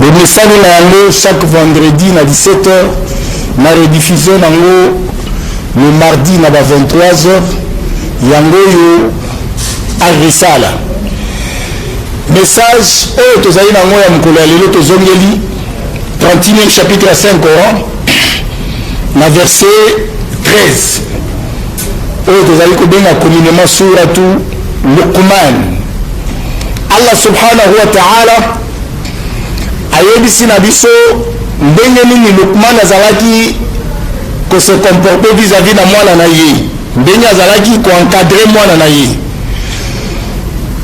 Bomesani na yango chaque vendredi na 17 heures na rediffusion na yango le mardi na ba 23 heures yango oyo agrisala message oyo tozali na yango ya mokolo ya lelo tozongeli 31 chapitre ya 5 coran na verset 13 oyo tozali kobenga communement suratu luqman allah subhanahu wa taala ayebisi na biso ndenge nini lukman azalaki kose comporte vis-à-vis na mwana na ye ndenge azalaki koencadre mwana na ye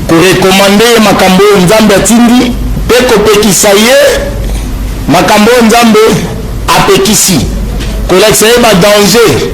korekomande ye makambo oyo nzambe atindi mpe kopekisa ye makambo oyo nzambe apekisi kolakisa ye badanger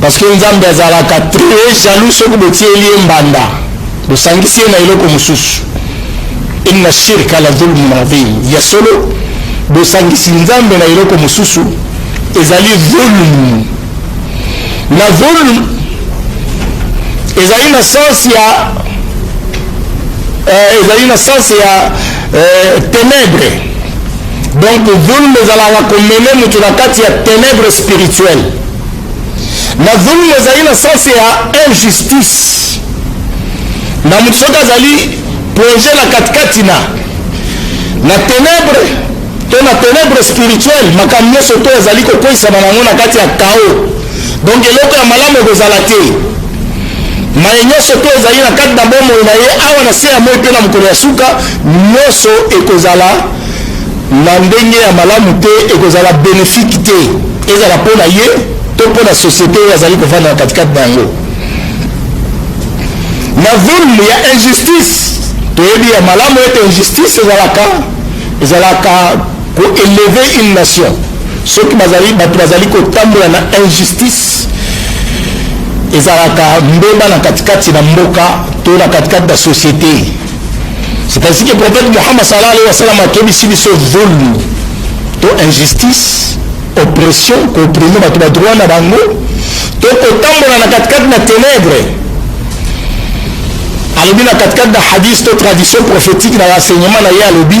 Parce que Nzambe azalaka très jaloux soki botieli ye mbanda bosangisi ye na eloko mosusu inna shirka la dhulmun adhim ya solo bosangisi nzambe na eloko mosusu ezali dhulm na dhulm ezali na sense ya euh, ezali na sense ya euh, ténèbre Donc dhulm ezalaka komene moto na kati ya ténèbre spirituelle. Na dhulm ezali na sens ya injustice. Na moto soki azali plonge na katikati na na ténèbre to na ténèbre spirituelle, makambo nyonso to ezali kokweisama na yango na kati ya chaos. Donc eloko ya malamu ekozala te. Maye nyonso mpe ezali na kati na bomoi na ye awa na se ya moi mpe na mokolo ya suka, nyonso ekozala na ndenge ya malamu te, ekozala benefiki te, ezala mpo na ye to mpo na societe oyo azali kovanda na katikati na yango. Na zulmu ya injustice, toyebi ya malamu ete injustice ezalaka ezalaka Ko elever une nation soki bazali bato bazali kotambola na injustice ezalaka mbeba na katikati na mboka to na katikati na société c'est ainsi que prophète Muhammad sallallahu alayhi wa sallam akebisi biso zulmu to injustice oppression koprime bato ba droit na bango to kotambola na katikati na ténèbre alobi na katikati na hadith to tradition prophétique na enseignement na ye alobi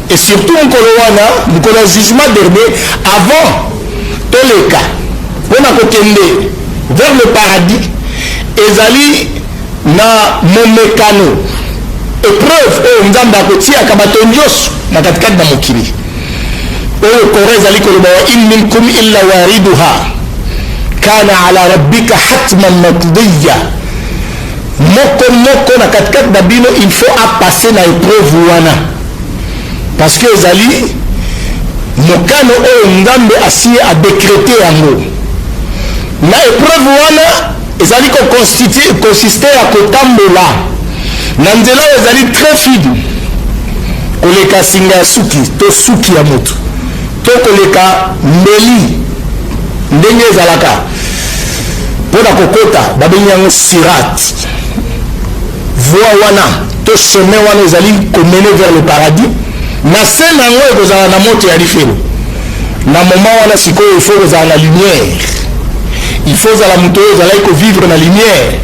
Et surtout mukolo wana mukolo ya jugement dernier avant toleka pona kokende vers le paradis ezali na momekano epreuve oyo nzambe akotiaka bato nyonso na katikati na mokili oyo kora ezali koloba wa in minkum illa wariduha kana ala rabbika hatman matdiya moko moko na katikati na bino il faut apasse na epreuve wana Parce que ezali mokano oyo Nzambe asi a decreter yango. Na epreuve wana ezali ko constituer, consister ya kotambola na nzela oyo ezali très fine koleka singa ya suki to suki ya moto to koleka mbeli ndenge ezalaka mpo na kokota babengi yango sirate Voie wana to chemin wana ezali ko mener vers le paradis, na se na yango ekozala na moto ya lifelo. Na moment wana sikoyo il faut kozala na lumière, il faut ozala moto oyo ozalaki ko vivre na lumière.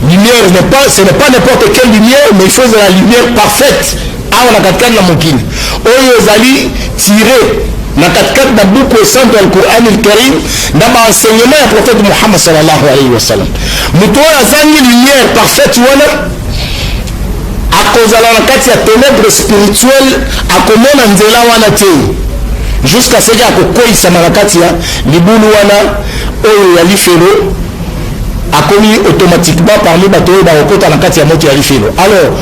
Lumière n'est pas, ce n'est pas n'importe quelle lumière, mais il faut ozala lumière parfaite. Awa na katikati na mokili oyo ezali tire na katikati na buku esanto ya Qur'an al-Karim na ba enseignement ya prophète Muhammad sallallahu alayhi wa sallam. Moto oyo azangi lumière parfaite wana akozala na kati ya ténèbres spirituel, akomona nzela wana te jusqu'à ce que akokweisama na kati ya libulu wana oyo ya lifelo akomi automatiquement parmi bato oyo bakokota na kati ya moto ya lifelo alors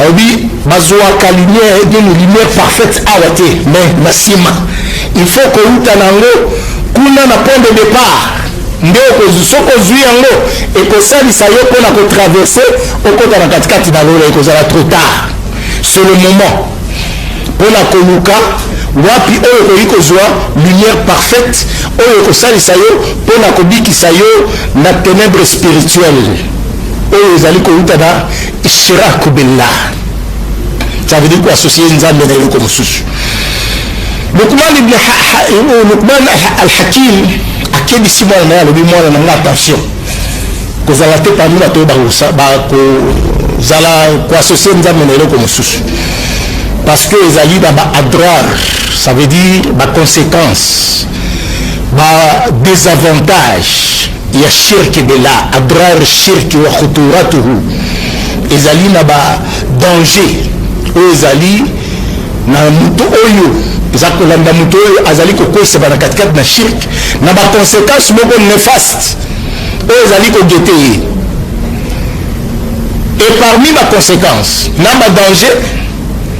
alobi bazuaka lumière nini lumière parfaite awa te mais na nsima il faut kouta na yango kuna na point de départ nde soki ozwi yango ekosalisa yo mpo na kotraverse okota na katikati na lola ekozala trop tard sur le moment mpo na koluka wapi oyo okoki kozwa lumière parfaite oyo ekosalisa yo mpo na kobikisa yo na ténèbre spirituelle oyo ezali kouta na Shira Kobella. Ça veut dire quoi associer Nzambe na eloko mosusu. Lukman ibn Lukman al-Hakim akebisi mwana na ye alobi mwana na nga attention kozala te parmi bato oyo bakozala koassocie nzambe na eloko mosusu parce que ezali na baadrar ça veut dire baconséquence badesavantage ya shirk billah adrar shirk wa khuturatuhu ezali na ba danger oyo ezali na moto oyo eza kolanda moto oyo azali kokweyisa bana katikati na shirk na ba conséquence moko nefaste oyo ezali kogete ye et parmi ba conséquence na ba danger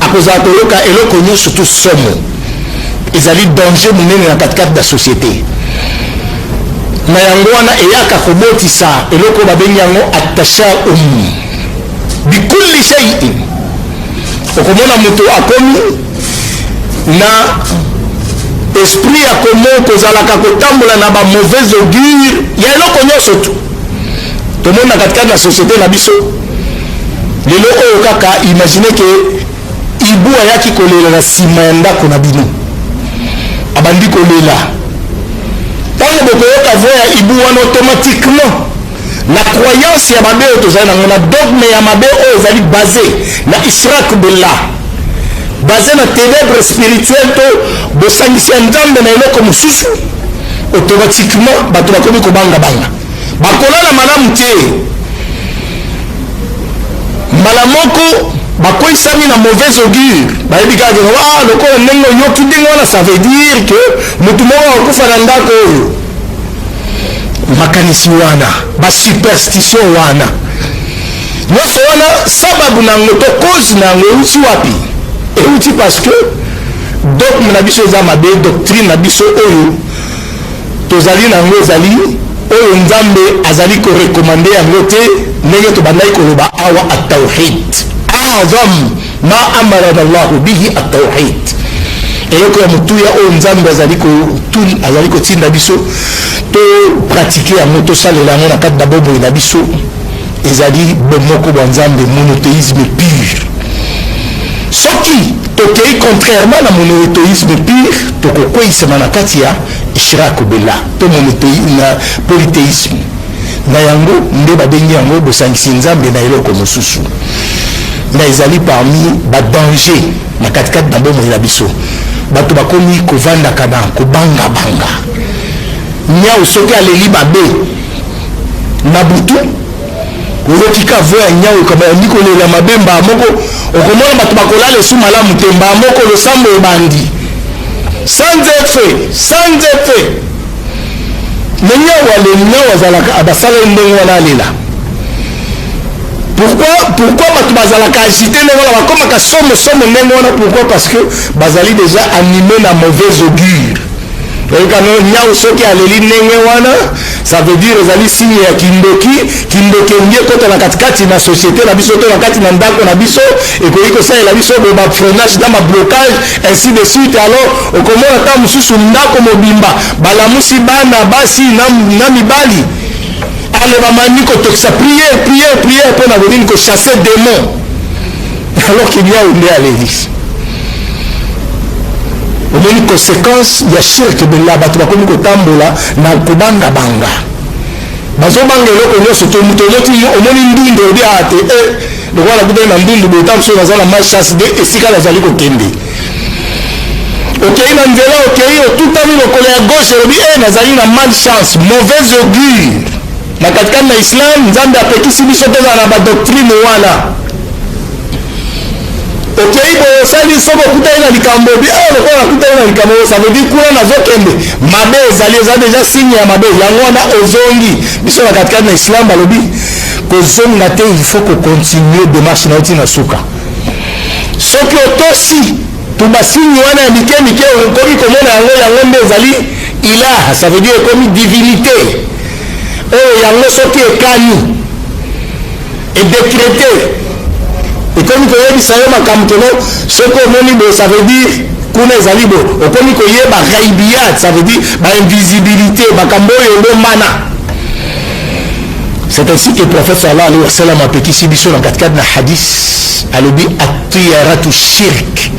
Akozala koyoka eloko nyonso to somo. Ezali danger monene na katikati na societe. Na yango wana eyaka kobotisa eloko babengi yango atashaum bikulli shay'in. Okomona moto akomi na esprit ya komo kozalaka kotambola na ba mauvais augure ya eloko nyonso tu tomoni na katikati na societe na biso Lelo oyo kaka imaginer que hibou ayaki kolela na sima ya ndako na bino abandi kolela ntango bokoyoka voix ya hibou wana automatiquement na croyance ya mabe oyo tozali nango na dogme ya mabe oyo ezali base na israq bella base na ténèbre spirituel to bosangisi ya nzambe na eloko mosusu automatiquement bato bakomi kobangabanga Bakolala malamu te. Mbala moko bakweisami na mauvaise augure, bayebi kaka ke wa ah, lokola ndenge oyoki ndenge wana, ça veut dire que motu moko akokufa na ndako oyo. Makanisi wana, ba superstition wana, nyonso wana sababu na yango to cause na yango euti wapi? Euti parce que dogme na biso eza mabe, doctrine na biso oyo tozali na yango ezali oyo Nzambe azali ko recommander yango te ndenge tobandaki koloba awa at-tawhid a'zam ma amara Allah bihi at-tawhid eloko ya motuya oyo Nzambe azali ko azali kotinda biso to pratique yango tosalela yango na kati na bomoi na biso Ezali bomoko bwa Nzambe, monotheisme pur. Soki tokei contrairement na monoetheisme pur, tokokweyisama na kati ya ishraku billah, to na polytheisme. Na yango nde babengi yango bosangisi Nzambe na eloko mosusu. Na ezali parmi ba dangers na katikati na bomoi na biso. Bato bakomi kovandaka na kobangabanga. Niawu soki aleli mabe. na butu oyoki ka vo ya nyau ekabandi kolela mabe mbaa moko okomona bato bakolala esu malamu te mbaa moko losambo ebandi sans effet sans effet me nyau aleli nyau azalaka abasaleli ndenge wana alela pourquoi pourquoi bato bazalaka agite ndenge wana bakomaka somo somo ndenge wana pourquoi parce que bazali déjà anime na mauvaise augure Oyoka no nyau soki aleli ndenge wana ça veut dire ezali signe ya kindoki kindoki elingi ekota na katikati na société na biso to na kati na ndako na biso ekoki kosalela biso bo ba freinage na bablocage ainsi de suite alors okomona ntango mosusu ndako mobimba balamusi bana basi na, na mibali alobamani kotokisa priere priere priere mpo na konini kochasse demon alors que Liao nde alelisi omoni conséquence ya shirk bella bato bakomi kotambola na kobangabanga bazobanga eloko nyonso to moto omoti omoni ndundu obi aa te e lokola nakutani na ndundu boye ntango soki naza na malchance de esika nazali kokende okei na nzela okei otutami lokolo ya gauche olobi e nazali na malchance mauvaise augure Na katikati na Islam, Nzambe apekisi biso tozala na ba doctrine wana. Okei boye osali soki okutani na likambo bi awa ah, lokola nakutani na likambo oyo, ça veut dire kuna nazokende mabe ezali, eza deja signe ya mabe, yango wana ozongi. Biso na katikati na Islam balobi kozonga te, il faut kocontinue demarche na yo ti na suka. Soki otosi to basigne wana ya mike mike okomi komona yango, yango nde ezali ilaha, ça veut dire ekomi divinité. oyo yango soki ekani edecrete ekomi koyebisa yo makambo keno soki omoni boye ça veut dire kuna ezali boye okomi koyeba ghaibiyat ça veut dire bainvisibilité makambo oyo ebombana c'est ainsi que prophète sallallahu alayhi wa sallam apekisi biso na katikati na hadis alobi atiyaratu shirk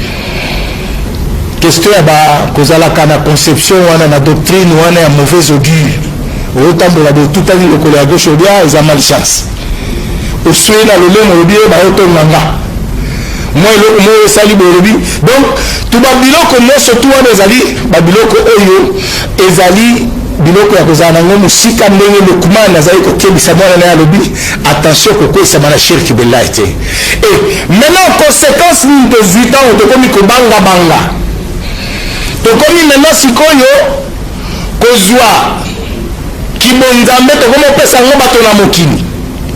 question ya bakozalaka na conception wana na doctrine wana ya mauvaise augure oyotambola botutani lokolo ya gauche obia eza mal chance oswei na lolemo olobi ye bayotonga nga mwa eloko moko esali bolobi donc to babiloko nyonso tu wana ezali babiloko oyo ezali biloko ya kozala nango mosika ndenge lukman azali kokebisa mwana na ye alobi attention kokweyisama na shirki billahi te Et maintenant, conséquence nini tozwi ntango tokomi kobangabanga? Tokomi maintenant sikoyo kozwa kibonzambe, tokomi kopesa yango bato na mokili.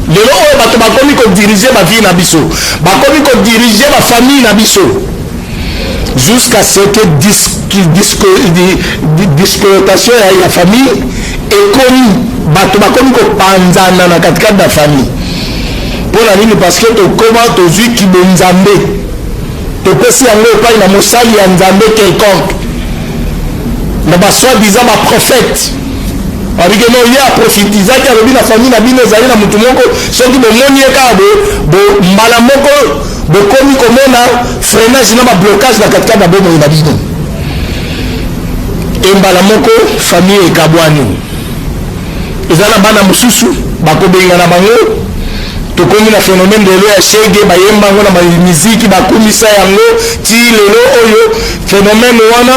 Lelo oyo bato bakomi kodirige bavie na biso, bakomi kodirige bafamille na biso jusqu'à ce que discotation ya famille ekomi bato bakomi kopanzana na katikati na famille Pona nini? Parce que tokoma tozui kibonzambe, topesi yango epai na mosali ya Nzambe quelconque, na ba soit disant ba prophètes abike no ye aprofitizaki alobi na famille na bino ezali na motu moko soki bomoni ye kaka bo mbala moko bokomi komona freinage na bablocage na katikati na bomoi na bino e mbala moko famille ekabwani eza na bana mosusu bakobengana bango tokomi na phénomène lelo ya shege bayemba yango na miziki bakumisa yango ti lelo oyo phénomène wana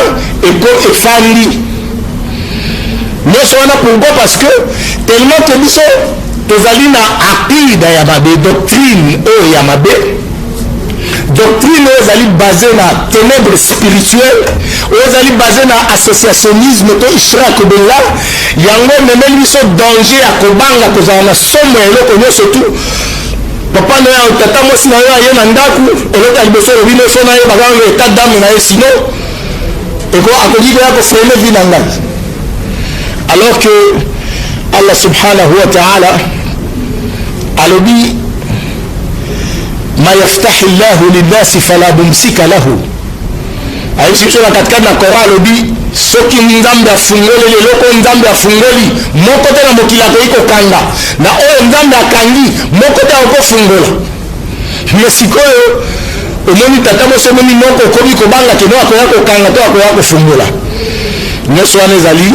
eko efandi nyonso wana pourquoi parce que tellement que biso tozali na aqida ya mabe doctrine oyo ya mabe Doctrine oyo ezali base na tenèbre spirituel oyo ezali base na associationnisme to ishrak bella yango ememeli biso danger ya kobanga kozala na somo ya eloko nyonso tu papa na yo tata mwasi na yo aye na ndako eloko ya liboso olobi noso na ye bakanga etat dame na ye sino akoki koya kofrene vi na ngai alors que allah subhanahu wa taala alobi ma yaftahi llahu linnasi fala mumsika lahu ayebisi biso na katikati na coran alobi soki nzambe afungoleli eloko oyo nzambe afungoli moko te na mokili akoki kokanga na oyo nzambe akangi moko te akokofungola me sikoyo omoni tata mosi omoni noko okomi kobanga keno akoya kokanga to akoya kofungola nyonso wana ezali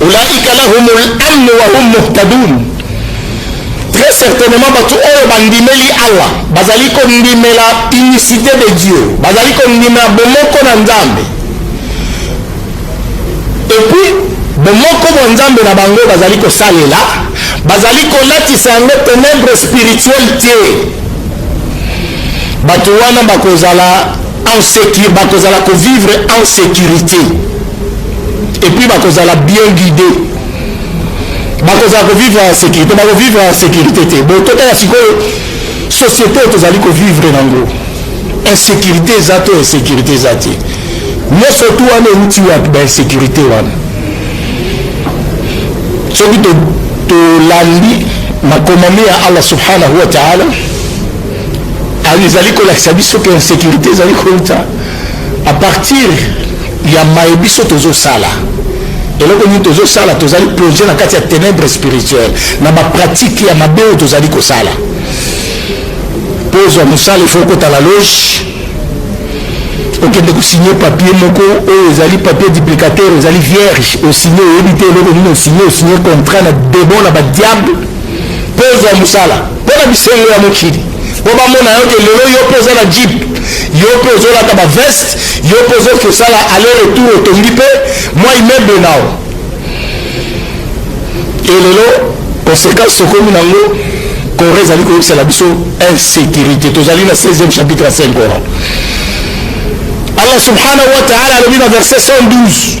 Ulaika lahumul amn wa hum muhtadun, très certainement batu oyo bandimeli Allah bazali kondimela unicité de Dieu, bazali kondimela bomoko na Nzambe, et puis bomoko bwa Nzambe na bango bazali kosalela, bazali kolatisa yango tenebre spirituel te, batu wana bakozala en sécurité, bakozala kovivre en sécurité. epuis bakozala bien guide bakozala kovivre ya sécurité bakovivre ya sécurité te bo totala sikoyo société oyo tozali kovivre nango insécurité eza to insécurité eza te nyonso tu wana euti wapi bainsécurité wana soki tolandi makomami ya allah subhanahu wa taala ezali kolakisa biso ke insécurité ezali kouta A partir ya maye biso tozo sala eloko nini tozo sala tozali plonger na kati ya tenebre spirituel na ba pratique ya mabe oyo tozali kosala mpo ozwa mosala ifo okota na loge okende kosigne papier moko oyo ezali papier duplicateur ezali vierge osigne oyebi te eloko nini osigne osigne contrat na demon na badiable mpo ozwa mosala Pona bisengo ya mokili po bamona yo ke lelo yo pe oza na jeep yo pe ozolata ba veste yo pe ozoki kosala aller retour otongi pe mwa immeuble nao e lelo conséquence okomi nango corps ezali koyebisa na biso insécurité tozali na 16e chapitre ya 5 coran allah subhanahu wa taala alobi na verset 112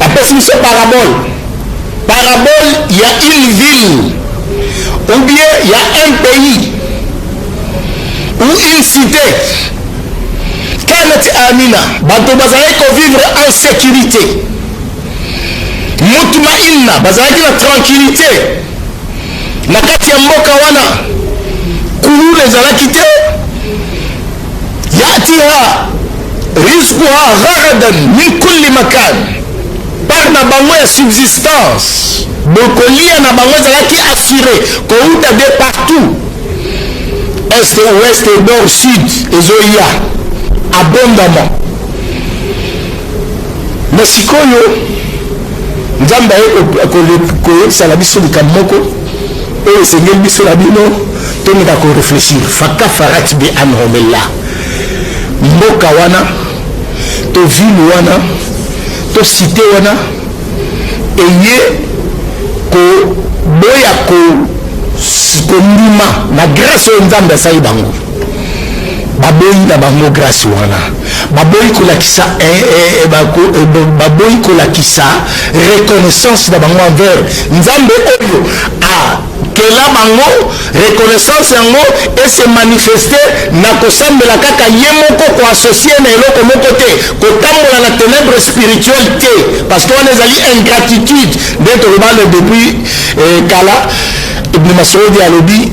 Apesi biso parabole, parabole ya une ville ou bien ya un pays ou une cite kanati amina bato bazalaki kovivre en sécurité mutuma inna bazalaki na tranquillité na kati ya mboka wana kuluna ezalaki te yatiha rizquha gharadan min kulli makan part na bango ya subsistance bokolia na bango ezalaki assure kouta de partout est ouest nord sud ezoya abondamment na sikoyo nzambe aye koyebisa na biso likambo moko Oyo esengeli biso na bino tomeka ko reflechir faka farat bi anhomella mboka wana to ville wana to cite wana eye koboya ko kondima na grace oyo nzambe asali bango baboyi na bango grâce wana baboyi kolakisa eh, eh, eh, baboyi kolakisa reconnaissance na bango envers nzambe oyo akela bango reconnaissance yango ese manifeste na kosambela kaka ye moko koassocie na eloko moko te kotambola na ténèbre spirituel te parce que wana ezali ingratitude nde tolobale depuis kala ibn masodi alobi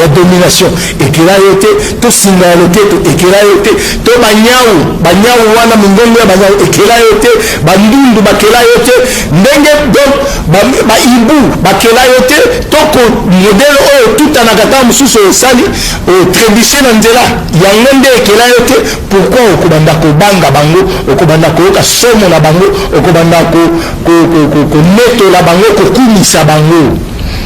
ya domination ekela yo te to singa ya loketo ekela yo te to banyau banyau wana mongongo ya banyau ekela yo te bandundu bakela yo te ndenge donc baibu bakela yo te to modele oyo otutanaka ntango mosusu osali otrebushe na nzela yango nde ekela yo te pourkui okobanda kobanga bango okobanda koyoka somo na bango okobanda konetola bango kokumisa bango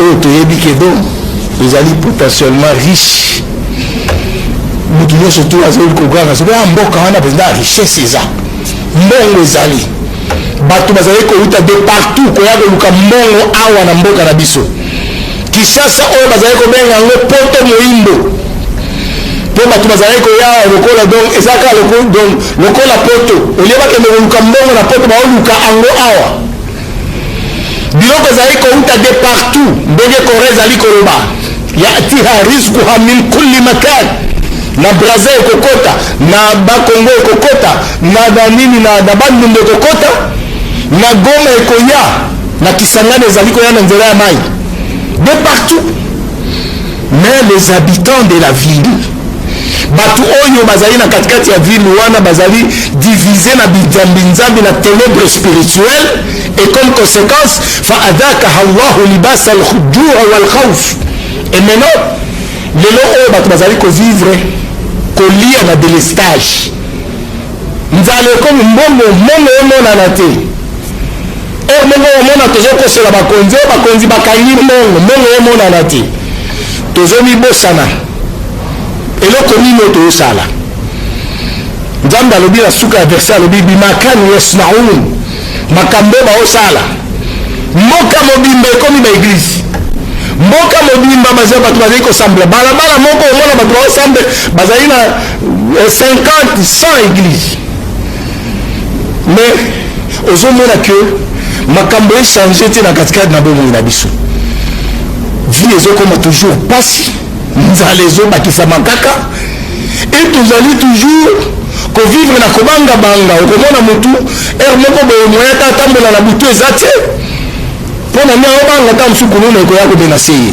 oyo toyebi ke do ezali potentiellement riche moto nyonso tu azali koganga soki a mboka wana mpenza richesse eza mbongo ezali bato bazali kowuta de partout koya koluka mbongo awa na mboka na biso kisasa oyo bazali kobenga yango poto moindo mpo bato bazali koya awa lokola donc eza kaka lokola poto olie bakende koluka mbongo na poto baoluka yango awa Biloko ezali kouta de partout ndenge Corée ezali koloba yatiha rizquha min kulli makan na Brazza ekokota na Bakongo ekokota na banini na, na Bandundu ekokota na Goma ekoya na Kisangani ezali koya na nzela ya mai de partout Mais les habitants de la ville batu oyo bazali na katikati ya ville wana bazali divise na binzambinzambi na tenebre spirituel et comme conséquence fa adakaha llahu libasa aljua walkhauf et maintenant lelo oyo bato bazali kovivre kolia na delestage Nzala ekomi mbongo, mbongo emonana te. Heure moko omona tozokosola bakonzi oyo, bakonzi bakangi mbongo, mbongo emonana te. Tozomibosana eloko nini oyo tozosala. Nzambe alobi na suka ya verse alobi bimakani yasnaun, makambo baosala. Mboka mobimba ekomi baeglise mboka mobimba baza bato bazali kosambela balabala moko omona bato baosambe bazali na 50 100 eglise mais ozomona que makambo echange te na katikati na bomoi na biso vie ezokoma toujours mpasi nzala ezobakisama kaka e tozali toujours kovivre na kobangabanga okomona motu heure moko boye moya ata atambola na butu eza te mpo na nde aobanga ta mosuku nuna ekoya kobenase ye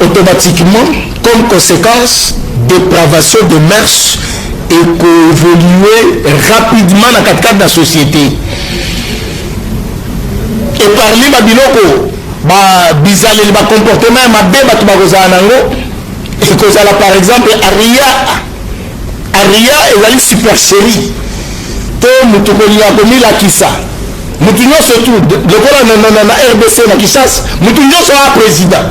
Automatiquement, comme consequence, depravation des mœurs eko evoluer rapidement na katikati na societe. Et parmi ba biloko ba bizaleli ba comportement ya mabe bato bakozala nango ekozala par exemple aria Aria ezali supercherie to moto kolinga komilakisa moto nyonso tu lokola na rdc na kishasa moto nyonso a président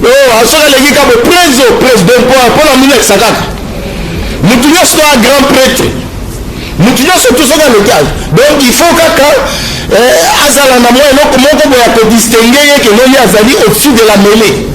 oh, ah, soki aleki kabo preso president mpo na milakisa kaka moto nyonso a grand prêtre moto nyonso tu soki aleki azo donc il faut kaka eh, azala na mwa eloko moko boya kodistingue ye kenoli azali au-dessus de la mêlée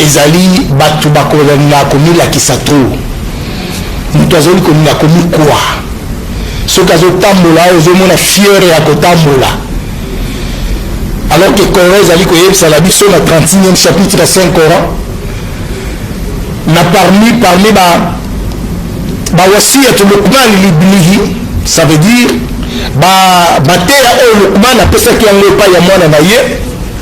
Ezali batu bakolinga komilakisa trop. Mutu azali kolinga komikua. Soki azotambola awa ozomona fiere ya kotambola. Alors que Coran ezali koyebisa na biso na 36e chapitre ya Saint Coran na parmi parmi ba ba wasiyatu Luqman libnihi ça veut dire ba mateya oyo Luqman apesaki yango epai ya mwana na ye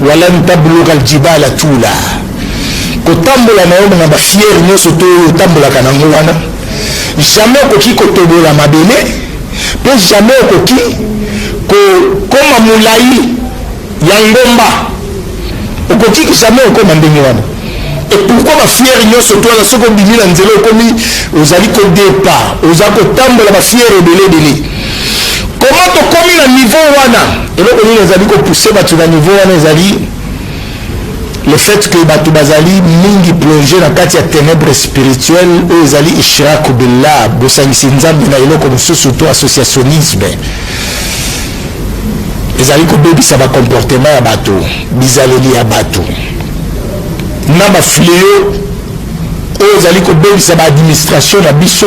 Walan tablugha aljibala tula, kotambola na yo na ba fiere nyonso to oyo otambolaka na yango wana, jamais okoki kotobola mabele mpe jamais okoki kokoma molai ya ngomba, okoki jamais okoma ndenge wana. Et pourquoi ba fière nyonso to wana soki obimi na nzela okomi ozali kodepa oza kotambola ba fière ebele ebele Comment tokomi na niveau wana? Eloko nini ezali ko pousser batu na niveau wana ezali le fait que batu bazali mingi plonger na kati ya tenèbres spirituelles oyo ezali ishraku billah, bosangisi Nzambe na eloko mosusu to associationnisme ezali kobebisa ba comportement ya bato bizaleli ya bato na bafleo oyo ezali kobebisa baadministration na biso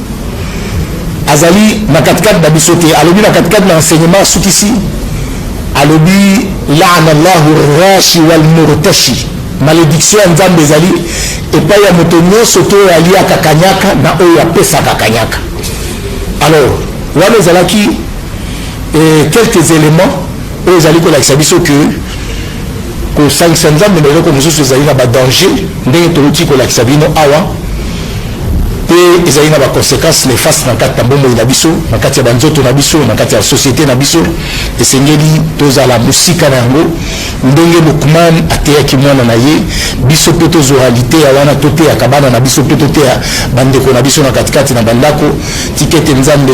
Azali na katikati na biso te, alobi na katikati na enseignement asukisi, alobi laana llahu rashi wal murtashi, malediction ya Nzambe ezali epai ya moto nyonso te oyo aliaka kanyaka na oyo apesaka kanyaka. Alors wana ezalaki eh, quelques éléments oyo ezali kolakisa biso que Kosangisa Nzambe na eloko mosusu ezali na badanger ndenge touti kolakisa bino awa, mpe ezali na baconsequence nefaste na kati na bomoi na biso, na kati ya banzoto na biso, na kati ya societe na biso. Esengeli tozala mosika na yango, ndenge Lukman ateyaki mwana na ye, biso mpe tozwa liteya wana, toteyaka bana na biso mpe toteya bandeko na biso na katikati na bandako, tika ete Nzambe